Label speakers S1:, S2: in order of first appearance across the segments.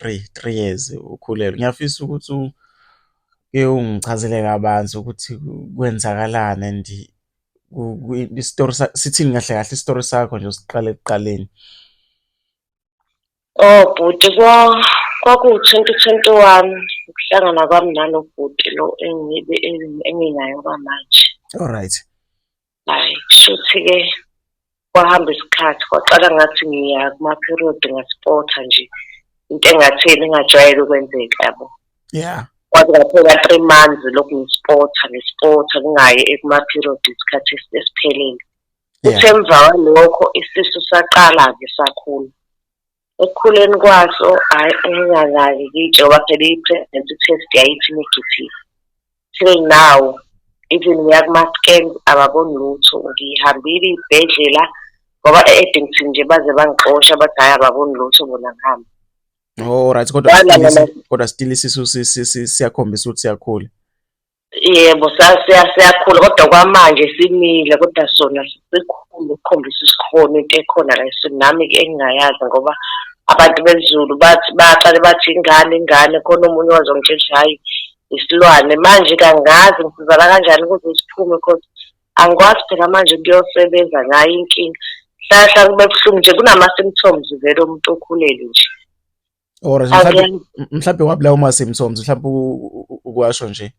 S1: three, three years ukhulelwe. Ngiyafisa ukuthi uke ungichazele kabanzi ukuthi kwenzakalani and isitori sithini kahle kahle isitori sakho nje usiqale ekuqaleni.
S2: Oh bhuti kwakuwu-twenty twenty one ukuhlangana kwami nalo bhuti lo engibe enginaye okwamanje. Alright.
S1: Hhayi,
S2: kushuthi-ke kwahamba isikhathi kwaqala ngathi ngiya kuma-period ngasipotha nje into engatheni engajwayele ukwenzeka yabo yeah kwaze
S1: kwaphela
S2: three months lokhu ngisipotha ngisipotha kungayi ekuma-period isikhathi esiphelele uthe emva kwalokho isisu saqala-ke sakhula Ekukhuleni kwaso hhayi nginganaki ngijoba phela i-pregnancy test yayithi negative. Till now even ngiya kuma-scan ababoni lutho, ngihambile iy'bhedlela ngoba e-Addington nje baze bangixosha bathi hhayi ababoni lutho bona ngihambe. Oh right
S1: kodwa kodwa still isisu siyakhombisa ukuthi siyakhula. Yebo
S2: siyakhula kodwa kwamanje simile kodwa sona sikhulu ukukhombisa isikhona into ekhona la eSotho nami engingayazi ngoba abantu besiZulu bathi baqale bathi ingane ingane khona omunye owazongitshela ukuthi hhayi isilwane manje-ke angazi ngisizakala kanjani ukuze siphume cause angikwazi phela manje kuyosebenza ngayo inkinga hlala hlala kube buhlungu nje kunama-symptoms vele omuntu okhulelwe nje. or
S1: mhlawumbe Angeke. mhlawumbe wabulawa uma symptoms mhlawumbe u- u- u- ukwasho nje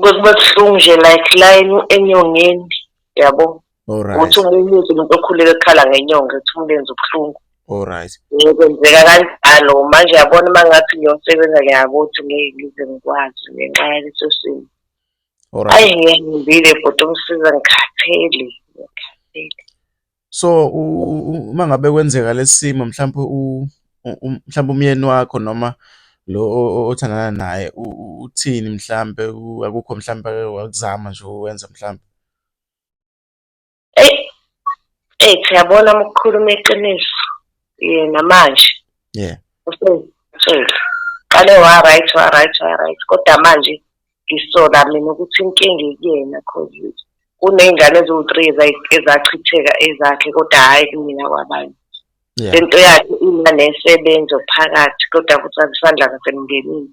S2: Bekuba buhlungu nje like la eny- enyongeni yabo alright ukuthi
S1: umunyuze umuntu
S2: okhulele ekhala ngenyonga ukuthi umlenze ubuhlungu alright Eh,
S1: kwenzeka
S2: kanjalo manje yabona uma ngathi ngiyosebenza ngiyakuthi ngeke ngize ngikwazi ngenxa yaleso simo alright ayi
S1: ngiyahambile
S2: bhuti umsiza ngikhathele ngikhathele
S1: So uma ngabe kwenzeka lesimo mhlawumbe u mhlawumbe umyeni wakho noma lo othandana naye uthini mhlawumbe akukho mhlawumbe ake wakuzama nje ukwenza mhlawumbe?
S2: Eyi, eyi cha yabona uma ukukhuluma iqiniso yena manje Yeah.
S1: useyitshela.
S2: Qale wa-right wa-right wa-right kodwa manje ngisola mina ukuthi inkinga ikuyena cause kuney'ngane eziwu-three ezachitheka ezakhe kodwa hhayi kumina kwabanye lento yakhe ina nesebenzo phakathi kodwa futhi azisandla kasemndenini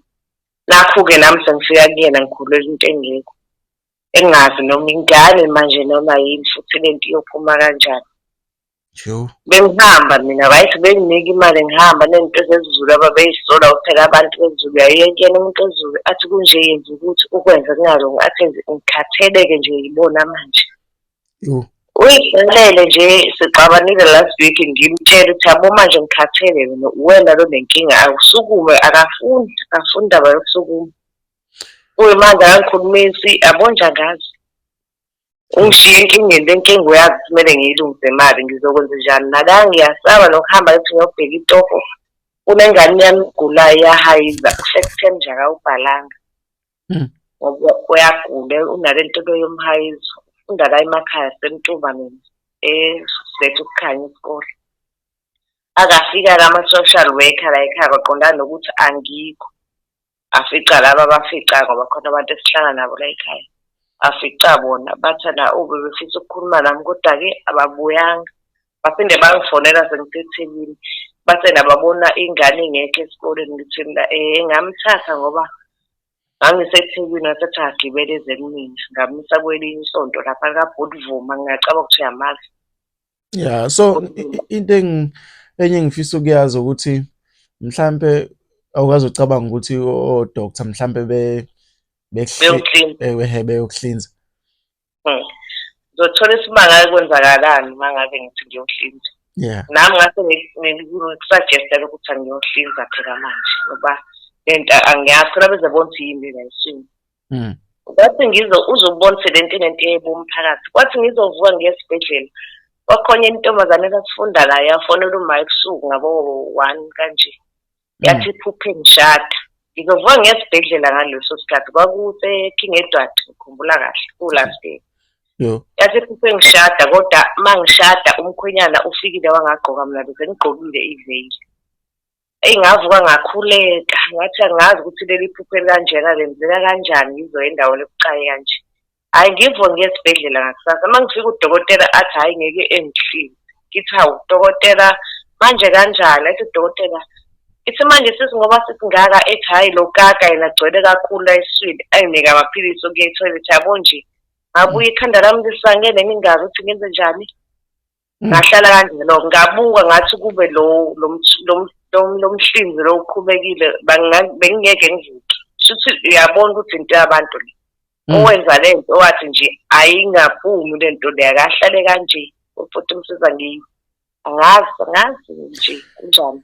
S2: nakho-ke nami sengifika kuyena ngikhulwela into engekho engazi noma ingane manje noma yini futhi lento iyophuma kanjani Yo. Bengihamba mina right benginika imali ngihamba nento zezulu ababeyisola kuphela abantu bezulu yayiyena umuntu ezulu athi kunje yenza ukuthi ukwenze kungalungi athi ngikhatheleke nje yibona manje uyibhalele nje sixabanile last week ngimtshele ukuthi yabo manje ngikhathele mina uwena lo nenkinga akusukume akafuni akafuni indaba yokusukuma uye manje akangikhulumisi yabonja ngazi ungishiye enkingeni le nkinga uyazi kumele ngiyilungise mali ngizokwenza njani nala ngiyasaba nokuhamba ngithi ngiyobheka itofo kunengane yami igulayo iyahayiza kusekutheni nje akawubhalanga hmm. ngoba uyagula unale nto yomhayizo ufunda la emakhaya semtumba mina esethe ukukhanya isikole akafika-ke ama-social worker la ekhaya kwaqondana nokuthi angikho afica laba abafica ngoba khona abantu esihlala nabo la ekhaya afica bona bathanda ube befisa ukukhuluma nami kodwa-ke ababuyanga baphinde bangifonela sengisethekini bathe nababona ingane ingekho esikoleni ngithini la um engamthatha ngoba ngangisethekwini wasethi agibele eze kumina ngamisa kwelinye isonto lapha likabhudivuma ngingacaba ukuthi uyamazi Yeah,
S1: so into engi enye engifisa ukuyazi ukuthi mhlampe awukaze ucabanga ukuthi o doctor mhlampe be beyokuhlinza ewe beyokuhlinza. Hmm.
S2: Ngizothola isimanga kwenzakalani uma ngabe ngithi ngiyohlinza. Yeah. Nami ngase ngikusuggesta ukuthi angiyohlinza phela manje ngoba lento angiyazi phela bezobona ukuthi yini lensini. mm. kwathi ngizo uzobona sebentini into yebomphakathi kwathi ngizovuka ngiyesibhedlela kwakhona intombazane esasifunda la yafonela uma ebusuku ngabo one kanje mm. yathi iphuphe ngishada ngizovuka ngiyesibhedlela ngaleso sikhathi kwakuseking edward ngikhumbula kahle kulast day yathi iphuphe ngishada kodwa uma ngishada umkhwenyana ufikile wangagqoka mna bese ngigqokile iveyili eyi ngavuka ngakhuleka ngathi angazi ukuthi leli phupho elikanjena lenzeka kanjani ngizoya endaweni ebucayi kanje hhayi ngivuke ngiye esibhedlela ngakusasa uma ngifika udokotela athi hhayi ngeke engihlile ngithi hawu dokotela manje kanjani ethi udokotela ithi manje sisi ngoba sisingaka ethi hhayi lo kaka yena agcwele kakhulu la eswini ayinike amaphilisi okuya ethoyilethi yabo nje ngabuye ikhanda lami lisangene ngingazi ukuthi ngenze njani ngahlala kanjalo ngabuka ngathi kube lo lomhlinzi lo uqhubekile bengingeke ngivuke shuthi uyabona ukuthi into yabantu le mm. owenza le nto owathi nje ayingaphumi le nto le akahlale kanje futhi umsiza ngiyo angazi angazi nje kunjani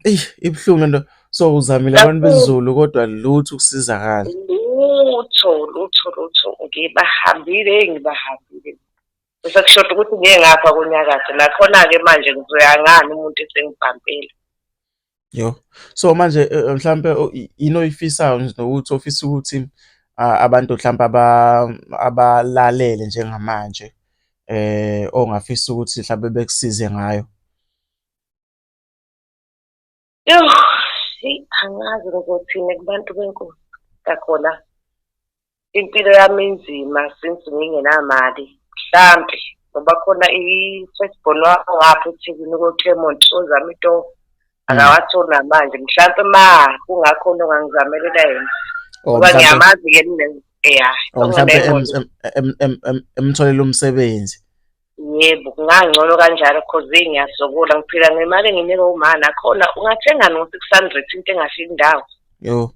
S2: eyi
S1: ibuhlungu lento so uzamile abantu bezulu kodwa lutho ukusizakala lutho lutho
S2: lutho ngibahambile ngibahambile Sekushoda ukuthi ngeke ngapha kunyakathe nakhona-ke manje ngizoya ngani umuntu esengibhampile.
S1: Yo. So manje eh, eh, mhlampe o- i- yini oyifisayo nje nokuthi ofisa ukuthi ah, abantu mhlampe aba abalalele njengamanje eh ongafisa ukuthi mhlampe bekusize ngayo.
S2: Yoh, eyi angazi ngizothini kubantu benkosi kakhona impilo yami inzima since ngingenamali mhlampe ngoba khona i-first born wakho ngapha eThekwini ko-Clermont ozama itoho akawatholi namanje mhlampe ma kungakhona ongangizamelela yena Oh, ngoba mhlampe- ngiyamazi-ke mina ya oh,
S1: mhlampe em- em- em- em- em- emtholela umsebenzi Yebo,
S2: kungangcono kanjalo cause eyi ngiyasokula ngiphila ngemali enginikwe umama nakhona ungathengani ngo-six hundred into engafiki indawo. Yho.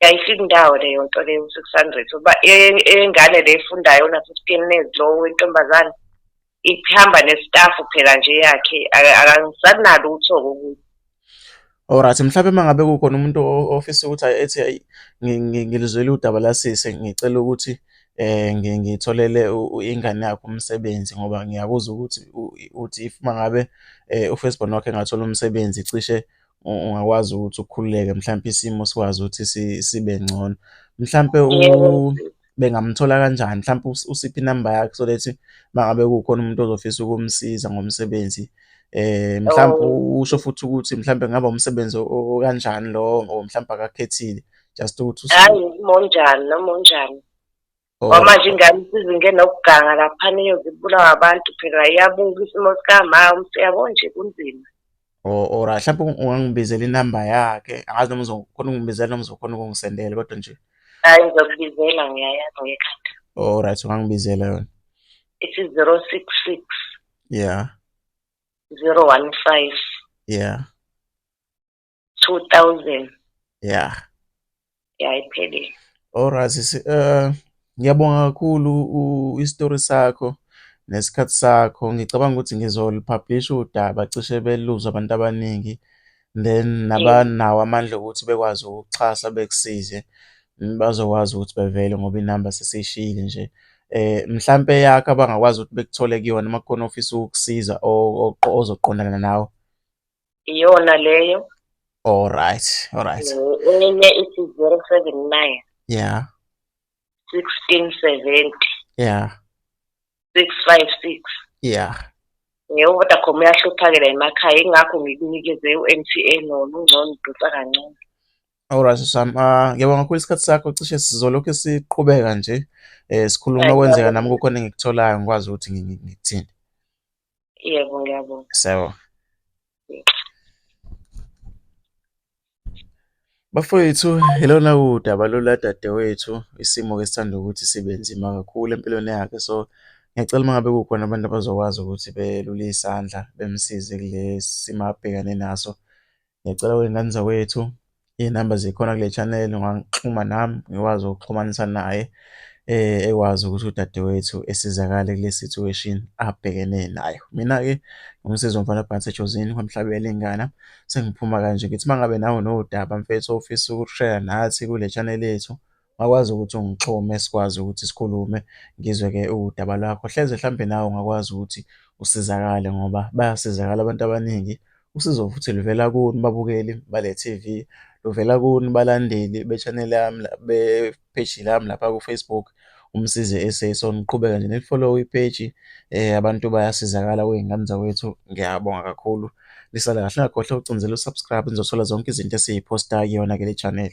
S1: Ayifiki
S2: indawo leyo nto leyo u-six hundred uba e- eyengane le efundayo ona-fifteen years lo wentombazane ihamba nestafu phela nje yakhe aka- akasanalutho-ke ukuthi Alright
S1: mhlawumbe uma ngabe kukhona umuntu ofisa ukuthi ayi ethi ayi ngilizwele udaba lasisi ngicela ukuthi eh ngitholele ingane yakho umsebenzi ngoba ngiyakuzwa ukuthi uthi if uma ngabe eh, ufirst born wakhe engathola umsebenzi cishe ungakwazi ukuthi ukhululeke mhlawumbe isimo sikwazi ukuthi sibe ngcono mhlawumbe bengamthola kanjani mhlawumpe usiphe inamba yakhe so that mangabe kukhona umuntu ozofisa ukumsiza ngomsebenzi eh mhlawumpe oh. usho futhi ukuthi mhlawumpe ngaba umsebenzi okanjani lo or mhlawumpe akakhethile just ukuthi hayi monjani
S2: noma onjani oh. kwamanje ingane isizinge nokuganga laphana iyozibulawa abantu phela iyabuka isimo sikamama umsiyabo nje kunzima or or
S1: mhlawumbe ungangibizela inamba yakhe angazi noma uzokhona ukungibizela noma uzokhona ukungisendela kodwa nje hayi ngizokubizela
S2: ngiyayazi ngekhanda all right ungangibizela
S1: yona ithi
S2: 066 yeah 015
S1: yeah
S2: 2000 yeah yayiphelile Alright
S1: sisi eh ngiyabonga kakhulu isitori sakho nesikhathi sakho ngicabanga ukuthi ngizolipublisha udaba cishe beluzwa abantu abaningi then nabanawo amandla okuthi bekwazi ukuxhasa bekusize bazokwazi ukuthi bevele ngoba inamba sesiyishiyile nje eh mhlampe yakho abangakwazi ukuthi bekuthole kuyona uma kukhona ofisa ukukusiza ozoqondana nawe iyona
S2: leyo all right
S1: all right
S2: enye ithi 079
S1: yeah
S2: 1670
S1: yeah
S2: 656 yeah
S1: yebo
S2: vodacom uyahluphakela emakhaya ingakho ngikunikeze u-mtn wona ungcono udonsa kancane Alright
S1: Sam, ah ngiyabonga kakhulu isikhathi sakho cishe sizolokhu siqhubeka nje eh sikhuluma okwenzeka nami kukhona engikutholayo ngikwazi ukuthi ngikuthini.
S2: Yebo, ngiyabonga. Sebo.
S1: Bafowethu, ilona udaba lola dadewethu, isimo ke sithanda ukuthi sibe nzima kakhulu empilweni yakhe. So, ngiyacela uma ngabe kukhona abantu abazokwazi ukuthi belule isandla bemsize kulesi simo abhekane naso. Ngicela kwey'ngane zakwethu iy'namba zikhona kule channel ungangixhuma nami ngikwazi ukuxhumanisa naye eh ekwazi ukuthi udadewethu esizakale kule situation abhekene nayo mina-ke ngumsizi womfana phansi ejozini kwamhlabela ingana sengiphuma kanje ngithi uma ngabe nawe nodaba mfethu ofisa ukushare nathi kule channel yethu Ungakwazi ukuthi ungixhume sikwazi ukuthi sikhulume ngizwe-ke udaba lwakho. Hleze hlampe nawe ungakwazi ukuthi usizakale ngoba bayasizakala abantu abaningi. Usizo futhi luvela kuni babukeli bale T_V, luvela kuni balandeli be-channel yami la be-page lami lapha ku-Facebook uMsizi S_A. So, niqhubeke nje nilifolowe ipeji abantu bayasizakala kwey'ngane zakwethu. Ngiyabonga kakhulu. Lisale kahle ngakhohle ucindezela usubscribe nizothola zonke izinto esiyiphosta kuyona ke le channel.